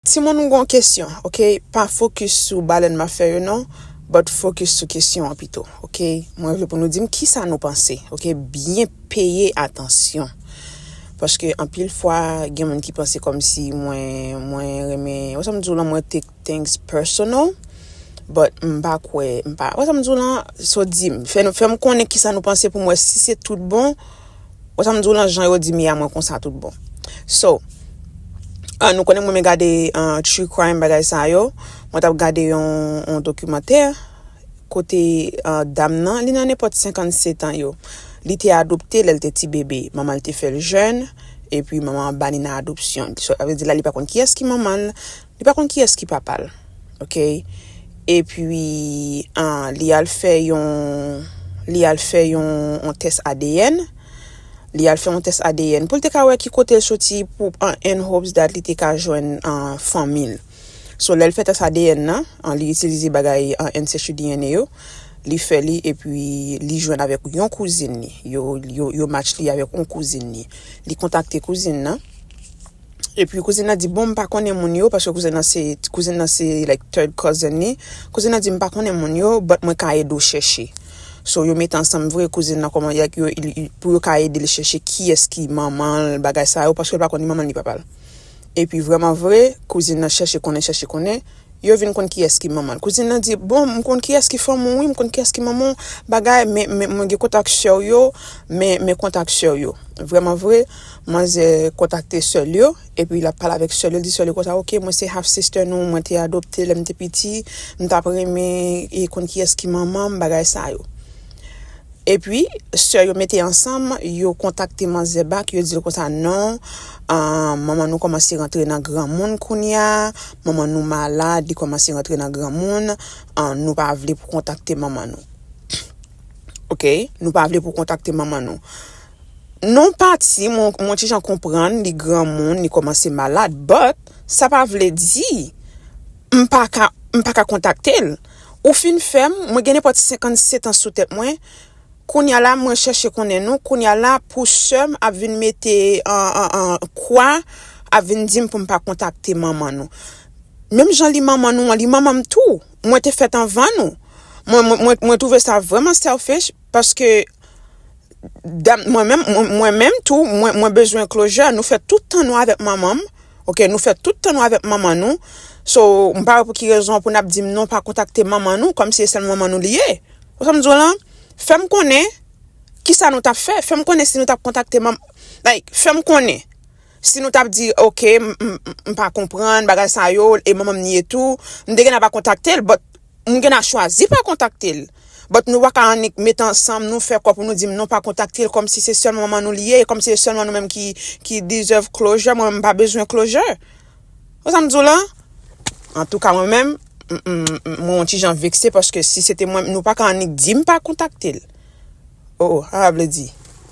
Timoun m gon kesyon ok pa focus sou balèn map fè yo non but focus sou kesyon an pito ok mwen vle pou nou dim kisa nou panse ok byen peye atansyon paske anpil fwa gen moun ki panse kòmsi mwen mwen renmen wè sam diw lan mwen take things personal but m pa kwè m pa wè sam diw lan so dim fè nou fèm konnen kisa nou panse poum wè si se tout bon. Wè sam diw lan jan yo di Mia mwen konsa tout bon so ahh nou konnen m renmen gade true crime bagay sa yo mwen tap gade yon dokimantè kote dam nan li nan nenpòt 57 an yo li te adopte lèl te ti bebe manman l te fèl jèn epi manman an bali nan adopsyon sa vle di la li pa konn kiyès ki manman l li pa konn kiyès ki papal ok epi li al fè yon li al fè yon yon tès adn li al fè yon tès adn poul te ka wè ki kotel soti pou en hopes dat li te ka jwenn fanmil so lèl fè tès adn nan li itilize bagay ancestry dna yo li fè li epi li jwenn avèk yon kouzin li yo yo match li avèk yon kouzin li li kontakte kouzin nan. Epi kouzin nan di bon m pa konnen moun yo paske kouzin nan se kouzin nan se like third cousin li. Kouzin nan di m pa konnen moun yo but mwen ka ede w chèche. So yo mete ansanm vre kouzin nan kòman like yo pou yo ka ede l chèche kiyès ki manman l bagay sa yo paske l pa konn ni manman l ni papa l. Epi vrèman vre kouzin nan chèche konnen chèche konnen yo vin konn kiyès ki manman l kouzin nan di bon m konn kiyès ki fanmi w wi m konn kiyès ki manman w bagay men men mwen gen kontak sè w yo men men kontak sè w yo vrèman vre manzè kontakte sè l yo epi l ap pale avèk sè l yo l di sè l yo konsa ok mwen se half sister nou mwen te adopte lè m te piti m t ap renmen konn kiyès ki manman m bagay sa yo. Epi sè yo mete ansanm yo kontakte manzè back yo dil konsa non manman nou kòmanse rantre nan granmoun kounya manman nou malad li kòmanse rantre nan granmoun nou pa vle pou kontakte manman nou ok nou pa vle pou kontakte manman nou non pati mwen ti jan konprann li granmoun li kòmanse malad but sa pa vle di m paka kontaktel. Ou fin fè m, mwen gen nenpòt 57 ans sou tèt mwen, kounya la mwen chèche konnen nou, kounya la pou sè m ap vin mete kwa, ap vin di m pou m pa kontakte manman nou. Menm jan li manman nou an, li manman m tou, mwen te fèt anvan nou. Mwen mwen mwen twouve sa vrèman selfish paske Mwen menm mwen menm tou mwen mwen bezwen closure nou fè tout tan nou avèk manmanm ok nou fè tout tan nou avèk manman nou so m pa wè pou ki rezon pou nap dim non pa kontakte manman nou kòm si e sèl manman nou li ye ou sa m di w lan fèm konnen kisa nou tap fè fèm konnen si nou tap kontakte manm like fèm konnen si nou tap di ok m m pa konprann bagay sa yo e manmanm ni ye tou m te gentan pa kontakte l but. M gena chwazi pa kontakte l. But nou paka annik met ansanm nou fè kò pou nou dim non pa kontakte l kòmsi se sèl manman nou li ye e kòmsi se sèlman nou menm ki ki deserve closure mwen menm m pa bezwen closure wè sa m di w lan antouka mwen menm m mwen on ti jan vekse paske si se te mwen nou paka annik dim pa kontakte l oh oh sa vle di.